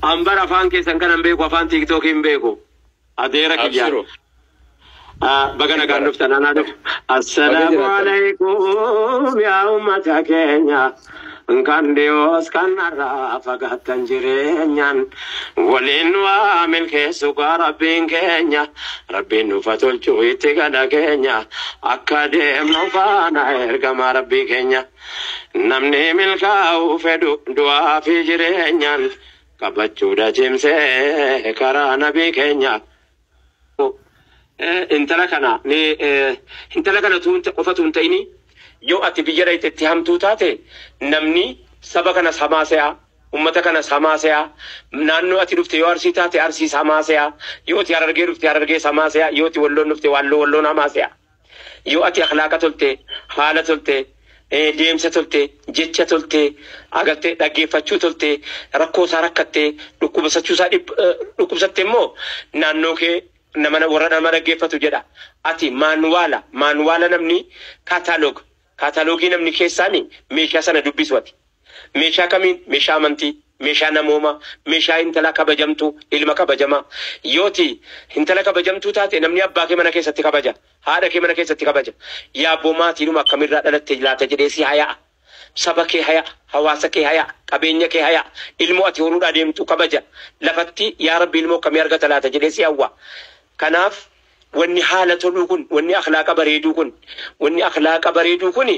An bar afaan keessan kanan beeku afaan tiiktookii hin beeku. Adeera kiyya. Abshiru. Ah, Baga nagaan Bara. dhuftan anaa dhufu. Baga Assalaamu jiraattan. alaikum yaa ummata keenya. Kan dhiyoos kan narraa fagaattan jireenyaan waliin nu haa milkeessu gaa rabbiin keenya. Rabbiin nuuf haa tolchu itti gala keenya. Akka deemnu faana ergamaa rabbii keenya. Namni milkaa'uu fedhu du'aa fi jireenyaan qabachuudha cimsee karaa nabii keenya. Intala kana intala kana qofatu hin ta'ini yoo ati biyya dhayxe itti hamtuu taate namni saba kanas hamaa se'a ummata kanas hamaa se'a naannoo ati dhufte yoo arsii taate arsiis hamaa se'a yoo ati harargee dhufte harargees hamaa se'a yoo ati walloon dhufte walloo walloon hamaa se'a. Yoo ati akhlaaqa tolte, haala tolte, deemsa tolte, jecha tolte, agartee dhaggeeffachuu tolte, rakkoo isaa rakkatte, dhukkubasachuu isaa dhukkubsatte immoo naannoo kee nama warra nama dhaggeeffatu jedha. Ati maanwaala, maanwaala namni catalog Kaataloogii namni keessaani meeshaa sana dubbisu ati. Meeshaa kamiin? Meeshaa amantii, meeshaa namoomaa, meeshaa hintala kabajamtuu, ilma kabajamaa. Yoo ati hintala kabajamtuu taate namni abbaa kee mana keessatti kabaja, haadha kee mana keessatti kabaja. Yaabboo maatiidhuma akkamiirraa dhalatte laata jedhee si haya'a. Saba kee haya'a, hawaasa kee haya'a, qabeenya kee haya'a, ilmoo ati horuudhaa deemtu kabaja. Lafatti yaa Rabbi ilmoo akkamii argata laata jedhee si hawwa. Kanaaf Wanni haala toluu kun, wanni akhlaaqa bareeduu kun, wanni akhlaaqa bareeduu kun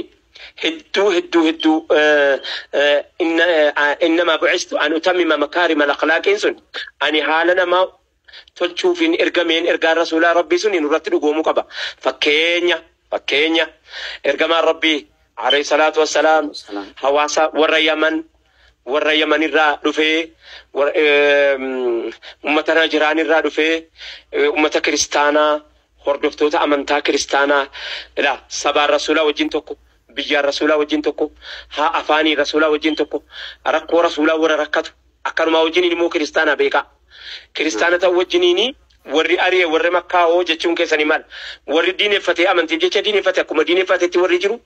hedduu hedduu hedduu inna innamaa bu'istu an utammima makaarimal akhlaaqiin sun ani haala namaa tolchuufiin ergameen ergaan rasuulaa Rabbii suni nurratti dhugoomuu qaba. Fakkeenya fakkeenya ergamaan Rabbii, aleyhi salaatu wassalaam, hawaasa warra Yaman, warra yaman irraa dhufee warra, eem, ummata najiraan irraa dhufee eh, ummata kiristaanaa hordoftoota amantaa kiristaanaa ila sabaan rasuulaa wajjin tokko biyyaan rasuulaa wajjin tokko haa afaanii rasuulaa wajjin tokko rakkoo rasuulaa warra rakkatu akkanumaa wajjin ilmoo kiristaanaa beekaa Kiristaana ta'uu wajjiniin warri ari'e warra makkaa hoo jechuun keessanii maal? Warri diineffatee amantiif jecha diineffate akkuma diineffaatetti warri jiru,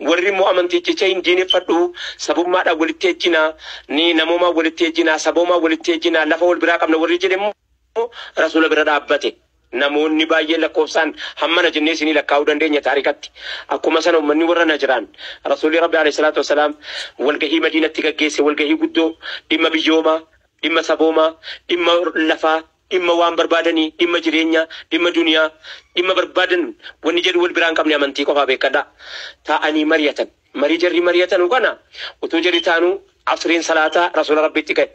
warri immoo amantiif jecha hin diineffadhu, sabummaadhaan walitti ejjina, ni namoomaan walitti ejjina, saboomaan walitti ejjina, lafa wal biraa qabna warri jedhe immoo Rasuula bira dhaabbate. Namoonni baay'een lakkoofsaan hammana jennee isinii lakkaa'uu dandeenya taarikatti. Akkuma sana ummanni warra Najraan Rasuulli Rabbii, aleyhi salaatu wassalaam, walgahii Madiinatti gaggeesse, walgahii guddoo dhimma biyyoomaa, Dhimma saboomaa, dhimma lafaa, dhimma waan barbaadanii, dhimma jireenyaa, dhimma duniyaa, dhimma barbaadan wanni jedhu wal biraa hin qabne amantii qofaa beekkadhaa. Taa'anii mariyatan. Marii jarri mariyatanu kana utuu jarri taanuu Asriin salaataa Rasuula Rabbiitti gahe.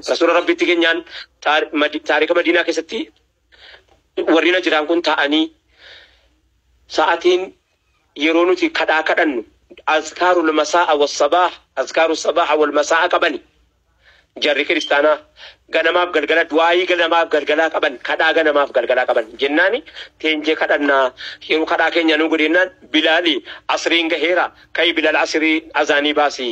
Rasuula Rabbiitti genyaan taarika Madiinaa keessatti warri Najiraan kun taa'anii sa'atiin yeroo nuti kadhaa kadhannu azkaarul masaa'a was sabaah azkaaru sabaaha wal masaa'a qabani. Jarri kiristaanaa ganamaaf galgala du'aayii ganamaaf galgalaa qaban kadhaa ganamaaf galgalaa qaban jennaani teenjee kadhannaa yeroo kadhaa keenyaa nuu godhi jennaan Bilaali asriin gaheera ka'i Bilal asirii azaanii baasii